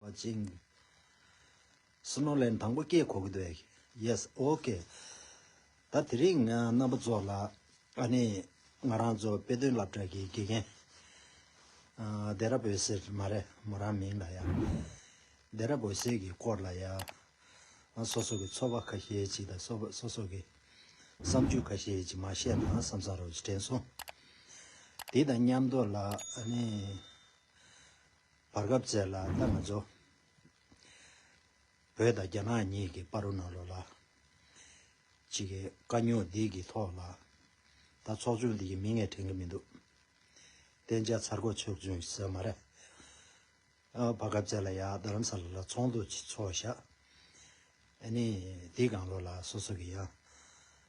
བ་ཅིང། སུ་ནོ་ལན་དང་པོ་སྐད་གོ་གི་འདུག Yes ok ད་དེ་རིང་ང་རྣམ་པ་ཚོ་ལ་ཨ་ནི་ང་རང་ཚོ་དཔེ་སྟོན་སླབ་གྲགས་ཀྱི་དགེ་རྒན་རྡེ་ར་བོད་ཟེར་མ་རེད་མོ་རང་མིང་ལ་ཡ་རྡེ་ར་བོད་ཟེར་གྱི་སྐོར་ལ་ཡ་ང་སོ་སོ་གི་འཚོ་བ་ཁ་ཤས་ཅིག་དང་སོ་སོ་གི་བསམ་ཚུལ་ཁ་ཤས་ཅིག་མ་བཤད་ན་བསམ་ས་རོ་ཞེས་དྲན་སོང་དེ་དང་མཉམ་དུ་ལ་ཨ་ནི། བར་སྐབས་བཙལ་ལ་རྟགས་མ་འཇོག། བོད་དང་རྒྱ་ནག་གཉིས་ཀྱི་པར་རོ་ནོར་ལོ་ལ། གཅིག་གིས་དཀའ་རྙོག་འདི་གི་ཐོག་ལ། ད་ཚོགས་ཆུང་འདི་ཡི་མིང་ངས་དྲན་གི་མི་འདུག། བསྟན་བྱ་ཚར་གོ་ཆོས་བཙུན་ཟེར་མ་རེད། བར་སྐབས་བཙལ་ལ་ཡ་རྡ་རམ་ས་ལ་ལ་ཚོགས་འདུ་གཅིག་འཚོགས་བཞག། ཨ་ནི་འདི་གང་ལོ་ལ་སོ་སོ་གི་ཡང།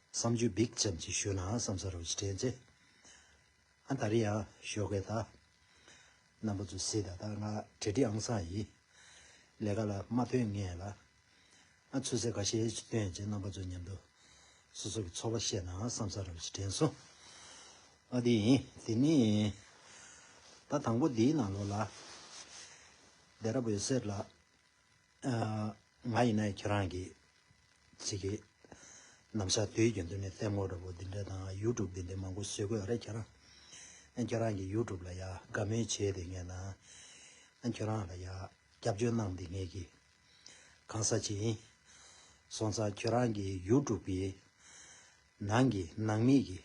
བསམ་ཇུས་འབིགས་ཙམ་གཅིག་ཞུས་ན་བསམ་ས་རུ་ཅི་དྲན་ཚེ། ཨ་ད་རི་ཡང་ཞོགས་ཀའི་ད། རྣམ་པ་ཚོ་སི་ད་ད་ང་བྲེ་ཏི་ཨང་སང་ཡི། ལས་ཀ་ལ་མ་ཕོད་ངས་ལ། ཨ་ཚོད་ཟེར་ག་ཤེས་ཅི་སྟོན་བྱེད་རྣམ་པ་ཚོ་མཉམ་དུ། སོ་སོ་གི་ཚོར་བ་བཤད་ནའང་བསམ་ས་ར་བ་ཞིག་དྲན་སོང། ཨ་དེ་ཡིན་དེ་ནི་ཡིན། ད་དང་པོ་འདིའི་ནང་ལོགས་ལ། བདེ་ར་བོའི་གསེར་ལ། ང་ཡིན་ན་ཁྱེད་རང་གི་ཚིག་གི་རྣམ་གཞག་དུས་རྒྱུན་དུ་ནས་ལྟད་མོ་འདྲ་པོ་འདི་འདྲ་དང་ཡུ་ཀྲུབ་འདི་འདྲ་མང་པོ་བཟོས་དགོས་རེད་ཁྱེད་རང་ཨ་ཁྱེད་རང་གི་ཡུ་ཀྲུབ་ལ་ཡ་དགའ་མོས་བྱས་དེ་ངས་ན་ཨ་ཁྱེད་རང་ལ་ཡ་སྐྱབས་བཅོལ་གནང་དེ་ངས་ཀྱི་གང་ས་ཅི་ཡིན་སོང་ཙང་ཁྱེད་རང་གི་ཡུ་ཀྲུབ་ཀྱི་ནང་གི་ནང་མིག་གི་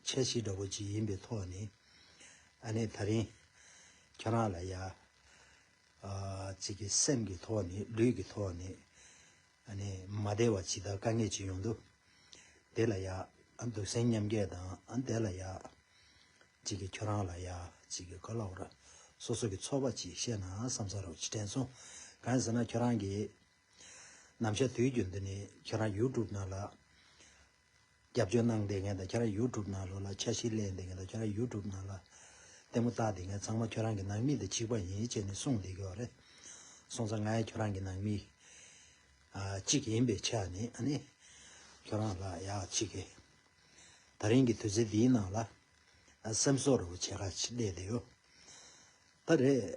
འཆལ་གཞི་འདྲ་པོ་ཅིག་ཡིན་པའི་ཐོག་ནས་ཨ་ནས་ད་རིང་ཁྱེད་རང་ལ་ཡ། གཅིག་གི་སེམས་ཀྱི་ཐོག་ནས་ལུས་ཀྱི་ཐོག་ནས་ནི་མ་བདེ་བ་ཇི་ལྟར་དཀའ་ངལ་ཅི་ཡོང་འདུག་དེ་ལ་ཡང་འདུག་སེམས་མཉམ་སྐྱེ་དང་དེ་ལ་ཡང་གཅིག་གི་ཁྱོད་རང་ལ་ཡང་གཅིག་གི་ག་ལ་བོར་སོ་སོ་གི་ཚོར་བ་ཅིག་བཤད་ན་བསམ་ས་རོགས་ཅི་དྲན་སོང་གང་ཟེར་ན་ཁྱོད་རང་གི་ནམ་ཞར་དུས་རྒྱུན་དུ་ནི་ཁྱོད་རང YouTube ནང་ལ་རྒྱབ་སྐྱོར་གནང་བསྡད་མཁན་དང་ཁྱེད་རང YouTube ནང་ལོག་ལ་འཆར་གཞི་གླས་བསྡད་མཁན་དང་ཁྱེད་རང YouTube ནང་ལ་ལྟད་མོ་བལྟ་བསྡད་མཁན་ཚང་མ་ཁྱོད་རང་གི་ནང་མི་དང་གཅིག་པ་ཡིན་བྱས་ནས་གསུངས་བསྡད་ཀྱི་བ་རེད། སོང་ཙང་ང་ཡང་ཁྱོད་རང་གི་ནང་མི་གཅིག་ཡིན་པའི་ཆ་ནས་ཁྱོད་རང་ལ་ཡག་གཅིག་གི་ད་རིང་གི་དུས་ཚོད་འདིའི་ནང་ལ་སེམས་གསོ་རོགས་བྱེད་ཁ་གླས་བསྡད་ཡོད་ད་རེད།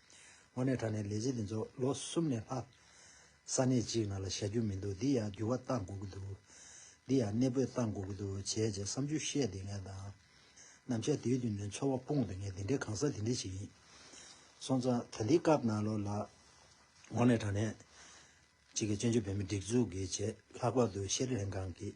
དངོས་གནས་དྲ་གནས་ལས་བྱེད་འདི་ཚོ་ལོ་གསུམ་ནས་ལྷག་ས་གནས་གཅིག་ནང་ལ་བཞག་རྒྱུ་མི་འདུག་འདི་ཡང་འགྱུར་བ་གཏང་དགོས་ཀྱི་འདུག་འདི་ཡང་གནས་སྤོས་གཏང་དགོས་ཀྱི་འདུག་བྱས་རྗེས་བསམ་ཚུལ་བཤད་དེ་ངས་དང། ནམ་ཞར་དེའི་དུས་ནས་འཚོ་བ་སྤོངས་ཏེ་ངས་དེ་འདྲའི་གང་ཟག་དེ་འདྲ་ཞིག་ཡིན། སོང་ཙང་ད་འདི་སྐབས་ནང་ལོགས་ལ། དངོས་གནས་དྲ་གནས་གཅིག་གི་བཙན་བྱོལ་བོད་མིའི་སྒྲིག་འཛུགས་ཀྱི་ཆེད་ལྷག་པར་དུ་ཤེས་རིག་ལྷན་ཁང་གིས།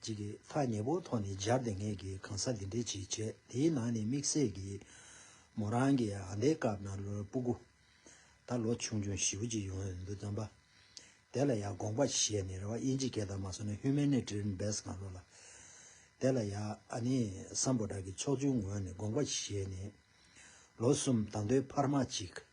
གཅིག་གིས་ཐག་ཉེ་པོ་ཐོག་ནས་སྦྱར་ཏེ་ངེད་ཀྱིས་གང་ཟག་འདི་འདྲའི་ཆེད་བྱས་དེའི་ནང་ནས་དམིགས་བསལ་གྱིས། མོ་རང་གི་ཨ་མདའི་སྐབས་ན་ལོའི་སྤུ་གུ། ད་ལོ་ཆུང་ཆུང་བཞི་བོ་གཅིག་ཡོང་ཡོད་འདུག་བསམ་པ། དེ་ལ་ཡ་དགོངས་པ་བཞེས་ནས་རེ་བ་དབྱིན་ཇི་སྐད་དང་མ་སོ་ན Human Nature Best གང་རུང་ལ། དེ་ལ་ཡ་ཨ་ནེ་སམ་པོ་བྲག་གི་ཕྱོགས་བཅུའི་ངོས་ནས་དགོངས་པ་བཞེས་ནས། ལོ་གསུམ་ད་མདོའི་འཕར་མ་གཅིག།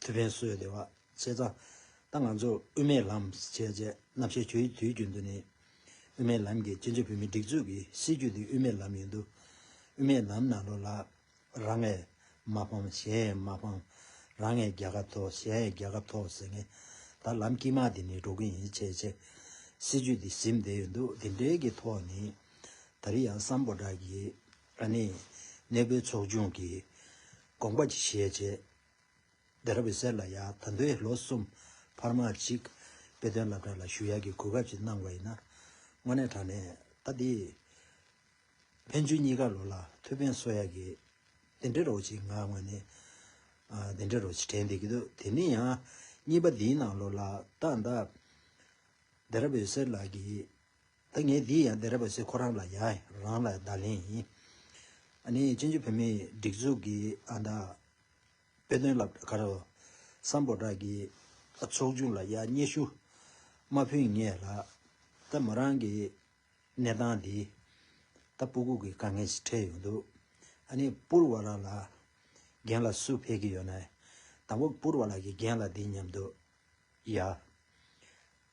ཐུ་བྷན་བསོད་བདེ་བ་ཆེ་ཚ་ད་ང་ཚོར་དབུ་མའི་ལམ་ཞེས་བྱའི་རྣམ་བཤད་བྱོས་དུས་རྒྱུན་དུ་ནི། དབུ་མའི་ལམ་གྱིས་སྤྱི་མཆོད་བོད་མིའི་སྒྲིག་འཛུགས་ཀྱི་སྲིད་བྱུས་ནི་དབུ་མའི་ལམ་ཡིན་དུ། དབུ་མའི་ལམ་ནང་ལོ་ལ་རང་ངས་མ་ཕམ་གཞན་ཡས་མ་ཕམ། རང་ངས་རྒྱལ་ཁབ་ཐོག་གཞན་ཡས་རྒྱལ་ཁབ་ཐོག་ཟེར་ངེས་ད་ལམ་དཀྱིལ་མ་དེ་ནི་འགྲོ་གི་ཡིན་ཆེས་ཆེ། སྲིད་བྱུས་དེ་ཟིམ་བསྡད་ཡོད་འདུག་དེ་འབྲེལ་གྱི་ཐོག་ནས་ད་རི་ཡང་སམ་པོ་དག་གིས་ཨ་ནེ་གནས་སྤོའི་ཚོགས་ཆུང་གིས་དགོངས་པ་ཞེས་བྱས། བདེ་རབ་པའི་སྲས་ལ་ཡང་ད་འདོད་ལོ་གསུམ་བར་མ་གཅིག། དཔེ་དོན་བསླབ་གྲྭ་ལ་ཞུ་ཡག་གི་གོ་སྐབས་ཅིག་གནང་བ་ཡིན་ན། དངོས་གནས་དྲང་གནས་ད་འདི། ཕན་ཚུན་གཉིས་ཀ་ལོ་ལ་ཐུགས་ཕན་གསོ་ཡག་གི། དེ་འདྲའི་རོགས་ཅིག་ང་དངོས་གནས། དེ་འདྲའི་རོགས་ཅིག་དྲན་བསྡད་ཀྱི་འདུག་དེ་ནས་ཡང། གཉིས་པ་འདིའི་ནང་ལོ་ལ་ད་ད། བདེ་རབ་པའི་སྲས་ལགས་ཀྱིས། ད་ངས་འདི་ཡང་བདེ་རབ་པ་ཚེ་ཁོ་རང་ལ་ཡང་རང་ལ་བརྡ་ལན་ཡིན། ཨ་ནི་བཙན་བྱོལ་བོད་མིའི་སྒྲིག་འཛུགས་ཀྱི་ཨ་མདའ། དཔེ་དོན་ལབ་དཀའ་རོ། སམ་པོ་བྲག་གི་ཚོགས་ཆུང་ལ་ཡག་སྙེ་ཞུ། མ་ཕུད་ངས་ལ། ད་མོ་རང་གི་གནས་སྟངས་འདི། ད་སྤུ་གུག་གི་དཀའ་ངལ་ཞིག་འཕྲད་ཡོང་འདུག་ཨ་ནི་སྤུར་བ་ལ་ལ། རྒན་ལ་སུ་ཕེད་གི་ཡོད་ནའི། དང་པོ་སྤུར་བ་ལ་གི་རྒན་ལ་འདི་སྙམ་འདུག་ཡ།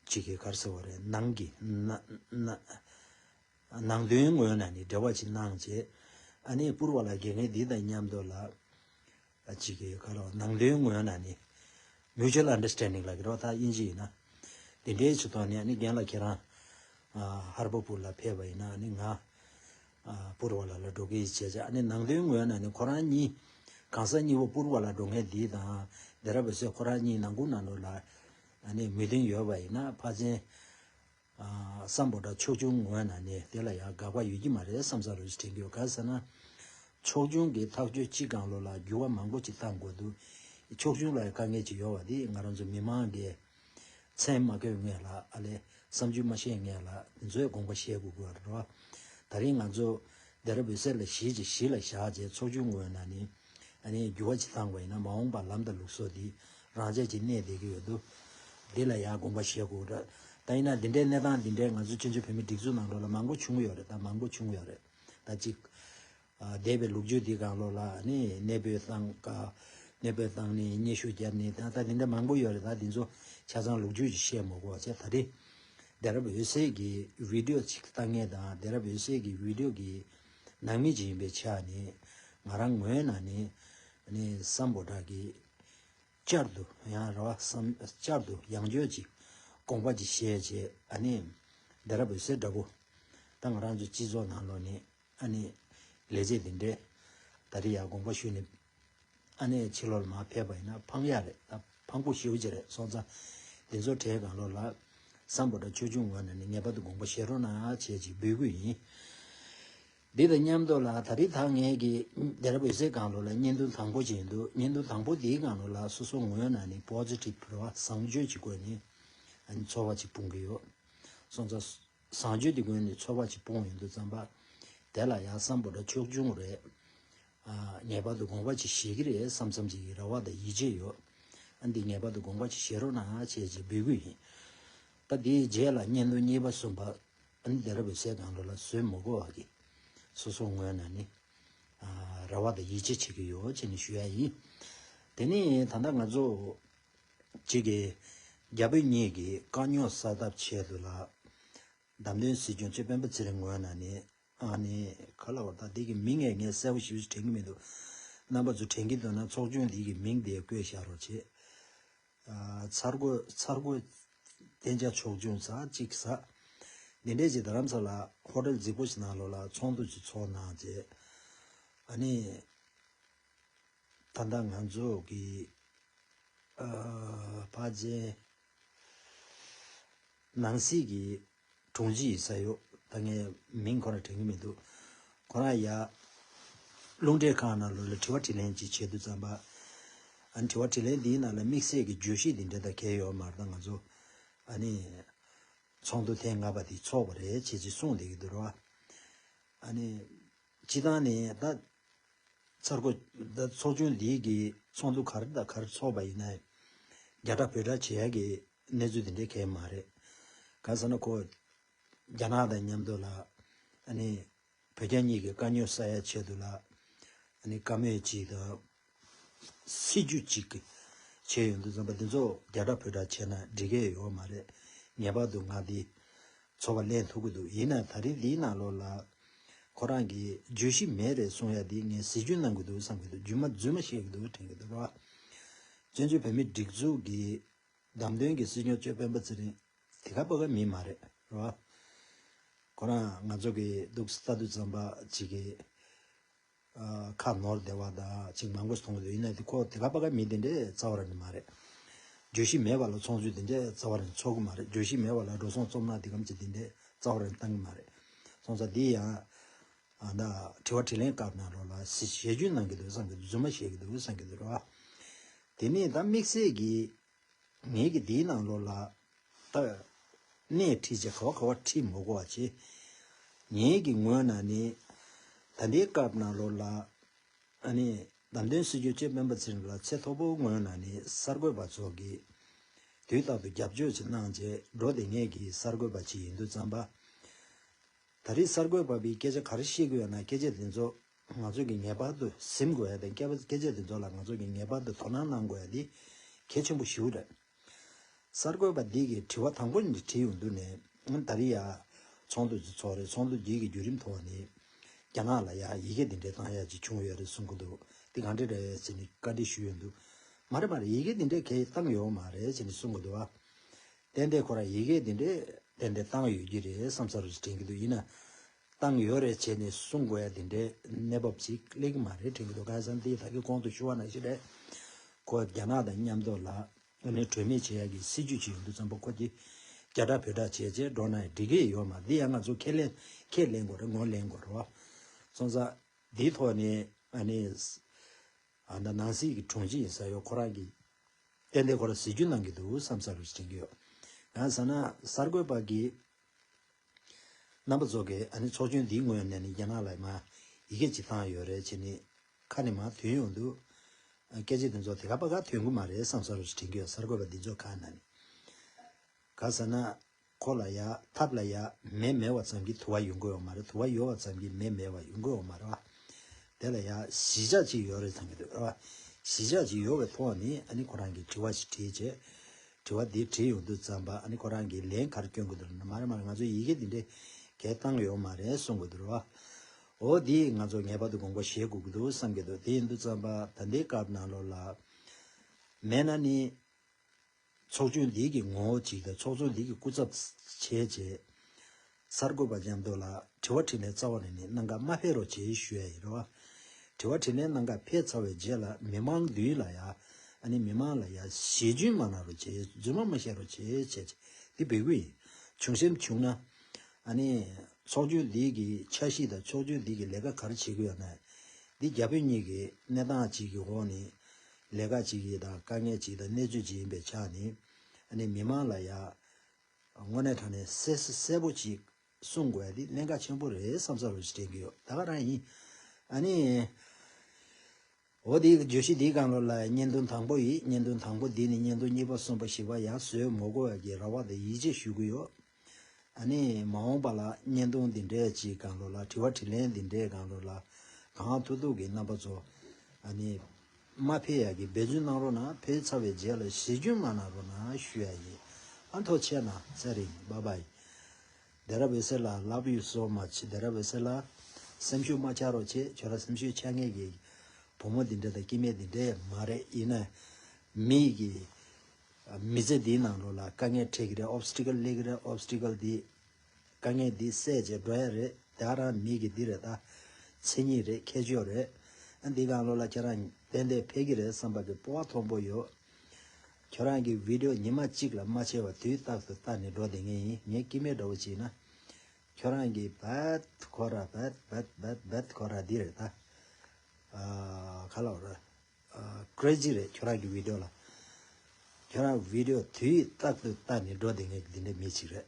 ཕྱི་གི་གར་སེལ་བ་རེད། ནང་གི། ནང་དོན་ངོས་ནས་ནི་འབྲེལ་བ་ཅིག་གནང་བྱས། ཨ་ནེ་བསྐུར་བ་ལ་དགེ་རྒན་འདི་དང་མཉམ་དུ་ལ། ཕྱི་གི་གར་བ། ནང་དོན་ངོས་ནས་ནི། Mutual Understanding ལ་དགེ་རོགས་དག་དབྱིན་ཇི་ཡིན་ན། འདི་འདྲའི་ཆུ་ཐོག་ནས་ཨ་ནེ་རྒན་ལགས་ཁྱེད་རང། ཧར་པ་བསྐུར་ལ་ཕེབས་པ་ཡིན་ན་ཨ་ནེ་ང། བསྐུར་བ་ལ་ལ་འགྲོ་གི་བྱས་བྱས་ཨ་ནེ་ནང་དོན་ངོས་ནས་ནི་ཁོ་རང་གཉིས། གང་ཟག་གཉིས་པོ་བསྐུར་བ་ལ་འགྲོ་མཁན་འདི་དང། འདི་ར་བས་སོས་ཁོ་རང་གཉིས་ནང་སྐུར་ནང་འགྲོ་ལ། ད་ནི་མི་ལྡིང་ཡོད་པ་ཡིན་ན་ཕ་ཆེན། སམ་བོ་ད་ཕྱོགས་ཆུང་ངོས་ན་ནི་དེ་ལ་ཡང་དགག་པ་ཡོད་ཀྱི་མ་རེད་བསམ་ས་རེད་དྲན་རྒྱུ་ག་ས་ན། ཕྱོགས་ཆུང་གི་ཐག་གཅོད་ཅི་གང་ལོ་ལ་འགྱུར་བ་མང་པོ་ཅིག་བཏང་དགོས་འདུག་ཕྱོགས་ཆུང་ལ་ཡང་དཀའ་ངལ་ཅིག་ཡོད་བ་དེ་ང་རང་ཚོ་མི་མང་གི། མཚན་མ་གོས་ངེས་ལ་ཨ་ལས་བསམ་ཚུལ་མ་བཤད་ངེས་ལ་དེ་ཚོའི་དགོངས་པ་བཤད་དགོས་དགོས་རེད། ད་རིང་ང་ཚོ། རྡེ་ར་བོད་སེར་ལ་གཞིས་བྱེས་གཞིས་ལ་བཞག་རྗེས་ཚོགས་ཆུང་ངོས་ན་ནི། ད་ནི་འགྱུར་བ་ཇི་ཙམ་འགོ་ཡིན་ན་མ་འོངས་པར་ལམ་དང་ལུགས་སྲོལ་འདི་རང་ཆས་ཀྱིས་གནས་བསྡད་ཀྱི་ཡོད་དོ། འདི་ལ་ཡང་དགོངས་པ་བཞེས་དགོས་འདྲ། ད་ཡིན་ན་འདི་འདྲའི་གནས་སྟངས་འདི་འདྲའི་ང་ཚོའི་ཕྱི་ཕྱོགས་བོད་མིའི་སྒྲིག་འཛུགས་ནང་ལོགས་ལ་མང་པོ་བྱུང་གི་ཡོད་རེད་ད་མང་པོ་བྱུང་གི་ཡོད་རེད་ད་གཅིག། འདས་པའི་ལུགས་རྒྱུད་འདི་གང་ལོགས་ལ་ནི་གནས་སྤོས་བཏང། གནས་སྤོས་བཏང་ནས་སྙན་ཞུ་བརྒྱབ་ནས་ད་ལྟ་འདི་འདྲ་མང་པོ་ཡོད་རེད་ད་འདི་ཚོ་ཆ་ཚང་ལུགས་རྒྱུད་ཀྱི་བཤད་མོ་གོ་ཅེས་ད་ལྟའི་བདེ་རབ་འོད་གསལ་གྱི་བིད་ཡོ་གཅིག་ལྟ་ངན་དང་བདེ་རབ་འོད་གསལ་གྱི་བིད་ཡོ་གི་ནང་མི་གཅིག་ཡིན་པའི་ཆ་ནས་ང་རང་ངོས་ནས་ནི་སམ་བོ་དག་གིས་བསྐྱར་དུ་ཡང་ར་བ་བསམ་བསྐྱར་དུ་ཡང་བརྗོད་ཅིག་དགོངས་པ་ཅིག་བཞེས་རྗེས་ཨ་ནི་འདི་ར་བོད་སེར་འདྲ་པོ་ད་ང་རང་ཚོའི་སྤྱི་ཚོགས་ནང་ལོ་ནས་ཨ་ནི་ལས་བྱེད་འདི་འདྲས་ད་རི་ཡར་དགོངས་པ་ཞུས་ནས་ཨ་ནེ་ཕྱི་ལོར་མ་ཕེབས་པ་ཡིན་ན་འཕང་ཡག་རེད་ད་འཕང་པོ་ཞེའུ་ཅི་རེད་སོང་ཙང། འདི་ཚོ་གྲས་གང་ལོ་ལ། སམ་བོ་ད་ཆོས་ཆུང་ངོས་ནས་ནི་ངེས་པར་དུ་དགོངས་པ་བཞེས་རོགས་གནང་ཡ་བྱས་ཅིག་འབུལ་གུས་ཡིན། འདི་དང་མཉམ་དུ་ལ་ད་རི་དྭགས་ངན་གྱི། དེ་ར་བོད་ཟས་གང་ལོ་ལ་བརྙན་ཐུང་དང་པོ་བྱས་འདུག་བརྙན་ཐུང་དང་པོ་འདིའི་གང་ལོ་ལ་སོ་སོ་ངོས་ནས་ནི Positive བར་བཟང་སྤྱོད་ཀྱི་སྒོས་ནས། འཚོ་བ་ཅིག་སྤུངས་ཀྱི་ཡོད། སོང་ཙང། བཟང་སྤྱོད་དེ་ཀུན་ནས་ཚོར་བ་ཅིག་སྤོང་ཡོང་དུ་བརྩམས་པ། དེ་ལ་ཡང་བསམ་པོ་འདྲ་ཕྱོགས་ཆུང་རེད། ངེས་པར་དུ་དགོངས་པ་ཅིག་བཞེས་ཀྱི་རེད་བསམ་བསམ་བྱེད་ཀྱི་རེ་བ་དང་ཡིད་ཆེས་ཡོད། ཨ་འདི་ངེས་པར་དུ་དགོངས་པ་ཅིག་བཞེས་རོགས་གནང་ཨ་ཅེས་ཅེས་འབོད་གི་ཡིན། ད་དེའི་རྗེས་ལ་བརྙན་ཐུང་གཉིས་པ་གསུམ་པ། ཨ་ནི་དེ་ར་བོད་ཟས་གང་རུང་ལ་ཟོས་མི་དགོས་བ་གིས། སོ་སོ་ངོས་ནས་ནི། རེ་བ་དང་ཡིད་ཆེས་བྱེད་ཀྱི་ཡོད་ཅེས་ནི་ཞུ་ཡ་ཡིན། དེ་ནས་ད་ལྟ་ང་ཚོ། གཅིག་གིས། རྒྱ་བོད་གཉིས་ཀྱིས་དཀའ་རྙོག་གསལ་ཐབས་ཆེད་དུ་ལ། བདམས་ཐོན་སྲིད་སྐྱོང་སྤྱི་ཕན་པོ་ཚེ་རིང་ངོས་ན་ནི། ཨ་ནི། ག་ལ་བ་ད་འདི་གི་མིང་ངས་ངས་གསལ་བོ་ཞིབ་ཞིབ་དྲན་གི་མི་འདུག། རྣམ་པ་ཚོ་དྲན་གི་འདུག་ན་ཚོགས་ཆུང་འདི་གི་མིང་དེ་བཀོད་བཞག་རོགས་བྱེད། ཚར་གོས་ཚར་གོས། བསྟན་བྱ་ཆོག་ཆུང་ཟ་གཅིག་ཟ། འདི་འདྲས་ཀྱི་རྡ་རམ་ས་ལ་ཧོ་ཏེལ་རྫིག་པོ་ཞིག་ནང་ལོགས་ལ་ཚོགས་འདུ་ཅིག་ཚོགས་གནང་རྗེས། ཨ་ནི། ད་ལྟ་ང་ཚོ་གི་བྷ་ཇའི་ནང་སྲིད་ཀྱི་དྲུང་ཆེ་ཡི་ས་གཡོག་ད་ངས་མིང་ཁོ་ར་དྲན་གྱི་མི་འདུག་ཁོ་རང་ཡར་རླུང་འཕྲིན་ཁང་ནང་ལོག་ལ་དྲི་བ་དྲིས་ལན་ཅིག་བྱེད་དུ་བརྩམས་པ། ཨ་ནི་དྲི་བ་དྲིས་ལན་འདིའི་ནང་ལ་དམིགས་བསལ་གྱི་བརྗོད་གཞི་འདི་འདྲ་དག་གས་ཡོད་མ་རེད་ད་ང་ཚོ་ཨ་ནི་ཚོགས་འདུ་ཐེངས་ལྔ་པ་དེ་ཚོགས་པ་རེད་ཅེས་ཅིག་གསུངས་བསྡད་ཀྱི་འདུག་ར་བ། ཨ་ནི་སྤྱི་བཏང་ནས་ད་ཚར་གོ། ད་ཚོགས་ཆུང་འདིའི་གི་ཚོགས་འདུ་གར་ད་གར་ཚོགས་པ་ཡིན་ན། རྒྱ་གྲ་བོད་གྲ་བྱེད་ཡ་གི་གནས་ཚུལ་དེ་འདྲའི་གས་མ་རེད། ག་ས་ན་ཁོ། རྒྱ་ནག་དང་མཉམ་དུ་ལ། ཨ་ནི། བོད་རྒྱ་གཉིས་ཀྱི་དཀའ་རྙོད་བསལ་ཡ་ཆེད་དུ་ལ། ཨ་ནི་བཀའ་མོལ་གཅིག་དང། སྲིད་ཇུས་གཅིག་གི་ཆེད་ཡོད་འདུག་བསམ་པ་འདི་ཚོ་རྒྱ་གྲགས་བོད་གྲགས་བྱས་ན་འགྲིག་སྐད་ཡོད་པ་མ་རེད། ངེས་པར་དུ་ངག་འདི་ཚོ་བ་ལེན་ཐུབ་ཀྱི་འདུག་ཡིན་ནའི་ད་རིང་འདིའི་ནང་ལོགས་ལ་ཁོ་རང་གིས་བརྗོད་གཞི་མེད་རེད་གསུང་ཡ་འདི་ངས་གཟི་བརྗོད་གནང་གི་འདུག་བསམ་གྱི་འདུག་རྒྱུས་མ་རྫུས་མ་བཤད་ཀྱི་འདུག་དྲན་གྱི་འདུག་རོགས། བཙན་བྱོལ་བོད་མིའི་སྒྲིག་འཛུགས་ཀྱི་བདམས་ཐོན་གྱི་སྲིད་སྐྱོང་གཙོས་སྤེན་པ་ཚེ་རིང་དེ་ག་པ་ག་མིན་མ་རེད་རོགས། ཁོ་རང་ང་ཚོ་གི་འདུག་ས་རྡུལ་ཙམ་པ་གཅིག་གིས་ཁ་ནོར་བདེ་བ་དག་ཅིག་མང་པོས་མཐོང་བས་ཡིན་ན་དེ་ཁོ་དེ་ག་པ་ག་མི་དེ་འདྲས་རྩ་བ་རང་ནི་མ་རེད། བརྗོད་གཞི་མེད་པ་ལ་ཚོང་ཚུལ་དེ་འདྲས་རྩ་བ་རང་ནི་ཚོགས་ཀྱི་མ་རེད་བརྗོད་གཞི་མེད་པ་ལ་འགྲོ་སོང་རྩོམ་ནག་དེ་གམ་ཅིག་དེ་འདྲས་རྩ་བ་རང་ནི་བཏང་གི་མ་རེད། སོང་ཙང་འདི་ཡང། ཨ་མདའ། དྲི་བ་དྲིས་ལན་བཀའ་གནང་རོགས་ལ། ཞེ་ཆུང་གནང་གི་འདུག་བསམ་གི་འདུག་རྫུན་མ་བཤད་གི་འདུག་བསམ་གི་འདུག་རོགས། དེ་ནས་ད་དམིགས་བསལ་གྱིས། ངེད་ཀྱིས་འདིའི་ནང་ལོགས་ལ། ཏཱ། སྣེ་ཁྲིད་བྱེད་ཁ་བ་ཁ་བ་ཁྲིད་མོ་གོ་བ་བྱེད། ངེད་ཀྱི་ངོས་ན་ནི། ད་འདིའི་སྐབས་ནང་ལོགས་ལ། ཨ་ནི། བདམས་ཐོན་སྲིད་བྱུས་སྤྱི་དཔོན་པ་ཚེ་རིང་ལགས་ཚེ་མཐོ་པོ་ངོས་ན་ནི་གསར་འགོད་པ་ཚོ་གིས། དུས་རྟག་ཏུ་རྒྱབ་སྐྱོར་ཅིག་གནང་རྗེས་འགྲོ་དེ་ངེད་ཀྱི་གསར་འགོད་པ་ཅིག་ཡིན་དུས་བརྩམས་པ། ད་རིས་གསར་འགོད་པ་པའི་སྐད་ཆ་ག་རེ་བཤད་ཀྱི་ཡོད་ན་སྐད་ཆ་དེ་ཚོ་ང་ཚོས་ཀྱིས་ངེས་པར་དུ་གཟིམ་དགོས་ཡ་དེ་སྐད་པ་སྐད་ཆ་དེ་ཚོ་ལ་ང་ཚོས་ཀྱིས་ངེས་པར་དུ་དོ་སྣང་གནང་དགོས་ཡ་དེ་གལ་ཆེན་པོ་ཞིག་རེད། གསར་འགོད་པ་འདི་གིས་དྲི་བ་དང་པོ་ནི་དྲིས་ཡོང་དུས་ནས་ད་རེས་ཡ། ཚོང་དུད་ཀྱི་ཚོགས་རེད་ཚོང་དུད་འདི་གི་བརྒྱུད་རིམ་ཐོག་ནས། རྒྱ་ནག་ལ་ཡ་ཡི་གེ་འདི་འདྲའི་བཏང་ཡ་ཅིག་བྱུང་ཡོད་རེད་གསུང་གི་འདུག་དེ་གང་འདྲ་རེད་ཅེས་ནས་བཀའ་འདྲི་ཞུས་ཡོད་འདུག་མ་རེད་མ་རེད་ཡི་གེ་འདི་འདྲའི་གལ་བཏང་ཡོད་མ་རེད་ཅེས་ནས་གསུང་གི་འདུག་ཨ། དེ་འདྲའི་ཁོ་རང་ཡི་གེ་འདི་འདྲའི་དེ་འདྲའི་བཏང་ཡོད་ཀྱི་རེད་བསམ་ས་རུ་དྲན་གྱི་འདུག་ཡིན་ན། བཏང་ཡོད་རེད་བྱས་ནས་གསུང་དགོས་ཡ་དེ་འདྲའི་གནས་བབ་ཅིག་གླེགས་གི་མ་རེད་དྲན་གི་འདུག་ཁ་སང་དེའི་ད་གི་གོང་དུ་ཞུ་བ་ནང་བཞིན་རེད་ཁོ་རྒྱ་ནག་དང་མཉམ་འདོག་ལ་ཨ་ནི་གྲོས་མེད་བྱེད་ཡ་གི་སྲིད་ཇུས་ཅིག་ཡོད་འདུག་ཙམ་པོ་ཁོ་གི་རྒྱ་དྲག་བོད་དྲག་བྱས་བྱས་འགྲོ་ན་ཡང་འགྲིག་གི་ཡོད་མ་འདི་ཡ་ང་ཚོ་ཁས་ལེན་ཁས་ལེན་དགོས་རེད་ངོ་ལེན་དགོས་རེད་བ། སོང་ཙ། དེའི་ཐོག་ནས་ཨ་ནི་ཨ་ན་ནང་སྲིད་གི་དྲུང་ཆེ་ཡིན་ས་ཡོད་ཁོ་རང་གི་ཏན་ཏན་ཁོ་རང་སྲིད་ཇུས་གནང་གི་འདུག་བསམ་ས་རུ་བྱིན་གི་ཡོད་ཡང་ས་ན་གསར་འགོད་པ་གི་རྣམ་པ་ཚོགས་ཀྱི་ཨ་ནི་ཚོགས་ཆུང་འདིའི་ངོས་ནས་ནི་རྒྱ་ནག་ལ་མ་ཡི་གེ་ཅིག་བཏང་ཡོད་རེད་ཅེས་ནི་ཁ་ནས་མ་ཐོན་ཡོང་འདུག་སྐད་ཆ་འདི་ཚོ་དེ་ག་པ་ག་ཐོན་གི་མ་རེད་བསམ་ས་རུ་ཞིག་དྲན་གི་ཡོད་གསར་འགོད་པ་འདི་ཚོ་ཁ་ན་ནི་ག་ཟེར་ན་ཁོ་ལ་ཡ་ཐབས་ལ་ཡ་མེ་མེད་བ་ཙམ་གྱིས་དུ་བ་ཡོང་གི་ཡོད་མ་རེད་དུ་བ་ཡོད་བ་ཙམ་གྱིས་མེ་མེད་བ་ཡོང་གི་ཡོད་མ་རེད་བ་དེ་ལ་ཡ་གཞིས་ཆགས་ཅིག་ཡོད་རེད་བསམ་གྱི་འདུག་རེད་བ་གཞིས་ཆགས་ཅིག་ཡོད་བའི་ཐོག་ནས་ཨ་ནི་ཁོ་རང་གིས་དྲི་བ་ཞིག་དྲིས་རྗེས་དྲི་བ་འདི་དྲིས་ཡོང་དུས་བརྩམས་པ་ཨ་ནི་ཁོ་རང་གིས་ལན་གར་བསྐྱོན་དགོས་འདུག་མ་རེད་མ་རེད་ང་ཚོས་ཡི་གེ་འདི་འདྲའི་གས་བཏང་གི་ཡོག་མ་རེད་གསུང་དགོས་འདུག་རོའོ་འདི་ཡིས་ང་ཚོ་ངེས་པར་དུ་དགོངས་པ་བཞེས་དགོས་ཀྱི་འདུག་བསམ་གྱི་འདུག་དེ་ཡིན་དུས་བརྩམས་པ་ད་འདི་སྐབས་ནང་ལོགས་ལ་མེད་ན་ནི། ཚོགས་ཆུང་འདི་གི་ངོ་བོ་གཅིག་དང་ཚོགས་ཚོགས་འདི་གི་སྐུ་ཚབ་བྱས་རྗེས། གསར་འགོད་པ་འཇམ་རྡོ་ལགས་དྲི་བ་དྲིས་ལན་རྩ་བ་ནས་ནི་གནང་ག་མ་ཕེ་རོགས་བྱེད་ཞུ་ཡ་ཡི་རེད་བ། དྲི་བ་དྲིས་ལན་གནང་ག་ཕེ་ཚར་བའི་རྗེས་ལ་མི་མང་འདུས་ལ་ཡ། ཨ་ནི་མི་མང་ལ་ཡ་ཞེས་རྫུན་མ་གནང་རོགས་བྱེད་རྫུན་མ་མ་བཤད་རོགས་བྱེད་བྱས་བྱས་འདི་བེད་གུ་ཡིན། བྱུང་སེམས་བྱུང་ན། ཨ་ནི། ཚོགས་ཆུང་འདི་གི་འཆར་གཞི་དང་ཚོགས་ཆུང་འདི་གི་ལས་ཀ་ག་རེ་བྱེད་གུ་ཡ་ན། འདི་རྒྱ་བོད་གཉིས་ཀྱི་གནས་སྟངས་ཅིག་གི་འོག་ནས། ལས་ཀ་ཅིག་ཡིན་དང་དཀའ་ངལ་ཅིག་དང་གནས་ཚུལ་ཅིག་ཡིན་པའི་ཆ་ནས། ཨ་ནི་མི་མང་ལ་ཡ། དངོས་གནས་ཐོན་ནས་གསལ་གསལ་གསལ་པོ་གཅིག་གསུང་དགོས་པ་འདི་གླེན་ཀ་ཆེན་པོ་རེད་བསམ་བསམ་རེ་དྲན་གྱི་ཡོད་ད་ག་རང་ཡིན་ཨ་ནི། འོ་དེའི་བརྗོད་གཞི་འདིའི་གང་ལོ་ལ་བརྙན་ཐུང་དང་པོ་ཡིན་བརྙན་ཐུང་དང་པོ་འདི་ནི་བརྙན་ཐུང་གཉིས་པ་གསུམ་པ་བཞི་པ་ཡང་བཟོས་མོ་དགོས་པ་གྱི་ར་བ་དང་ཡིད་ཆེས་ཞུ་གི་ཡོད་ཨ་ནི། མ་འོངས་པ་ལ་བརྙན་ཐུང་འདི་འདྲའི་གཅིག་གང་ལོ་ལ་དྲི་བ་དྲིས་ལན་འདི་འདྲའི་གང་ལོ་ལ་གང་ཐུག་ཐུག་གི་རྣམ་པ་ཚོ་ཨ་ནི། མ་ཕེ་ཡ་གིས་འབད་བརྩོན་གནང་རོགས་གནང་བོད་ཚ་བའི་རྗེས་ལ་ཞི་རྒྱུན་མ་གནང་རོགས་གནང་ཞུ་ཡ་ཡི་ཨ་མཐོ་ཆེ་གནང་ཚེ་རིང་བ་བའི་རྡེ་ར་བོད་སེར་ལ་ལབ་ཡུལ་བཟོ་མ་བྱེད་རྡེ་ར་བོད་སེར་ལ་སེམས་ཤུགས་མ་ཆག་རོགས་ཆེ་ཁྱོད་ར་སེམས་ཤུགས་ཆག་ངེས་ཀྱི་བུ་མོ་འདི་འདྲ་དང་སྐྱེ་དམན་འདི་འདྲ་མ་རེད་ཡིན་ན་མི་ཡི་གི་མི་ཚེ་འདིའི་ནང་ལོགས་ལ་དཀའ་ངལ་འཕྲད་གི་རེད obstacle ལས་གི་རེད obstacle འདི། དཀའ་ངལ་འདི་སེལ་བྱེད་འགྲོ་ཡ་རེད་དེ་ཨ་རང་མི་གི་འདི་རེད་ད། མཚན་ཉིད་རེད་ཁྱད་ཆོས་རེད། འདི་གང་བློ་ལ་ཁྱེད་རང་ཏན་ཏན་ཕེབས་ཀྱི་རེད་བསམ་པ་གི་སྤོ་བ་མཐོང་པོ་ཡོད། ཁྱོད་རང་གི Video ཉི་མ་གཅིག་ལ་མ་ཆེ་བ་དུས་རྟག་ཏུ་ལྟ་ནི་འགྲོ་དེ་ངས་ཡིན་ངས་ཀི་མེད་འདྲ་བོ་བྱིན་ན། ཁྱོད་རང་གི་བད་ཁོ་ར་བད་བད་བད་བད་ཁོ་ར་འདི་རེད་ད། ག་ལ་རེད། Crazy རེད་ཁྱོད་རང་གི Video ལ། ཁྱོད་རང Video དུས་རྟག་ཏུ་ལྟ་ནི་འགྲོ་དེ་ངས་འདི་འདྲའི་མི་གཅིག་རེད།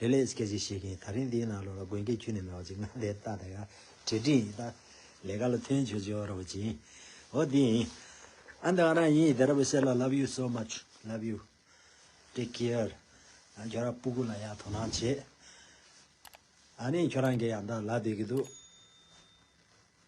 ལྷས་ལྷས་སྐད་ཅིག་བཤད་ཀྱིན་ད་རིང་འདིའི་ནང་ལོགས་ལ་དགོན་སྐད་ཁྱུད་ནས་མེད་བ་ཅིག་ང་ལས་ལྟ་ད་ཡ་དྲི་དྲི་ཡིན་ལྟ། ལས་ཀ་ལ་ཐོན་ཆོས་ཆོས་ཨོ་ར་བོ་ཅིག་ཨོ་དེ་ཡིན། ཨ་འདི་ཨོ་ར་ཡིན་དེ་ར་བོ་བཤད་ལ love you so much love you take care ཨ་ཁྱོད་ར་སྤུ་གུ་ལ་ཡང་དོ་སྣང་བྱེད། ཨ་ནི་ཁྱོད་རང་གི་ཡང་འདའ་ལ་བསྡད་ཀྱི་འདུག།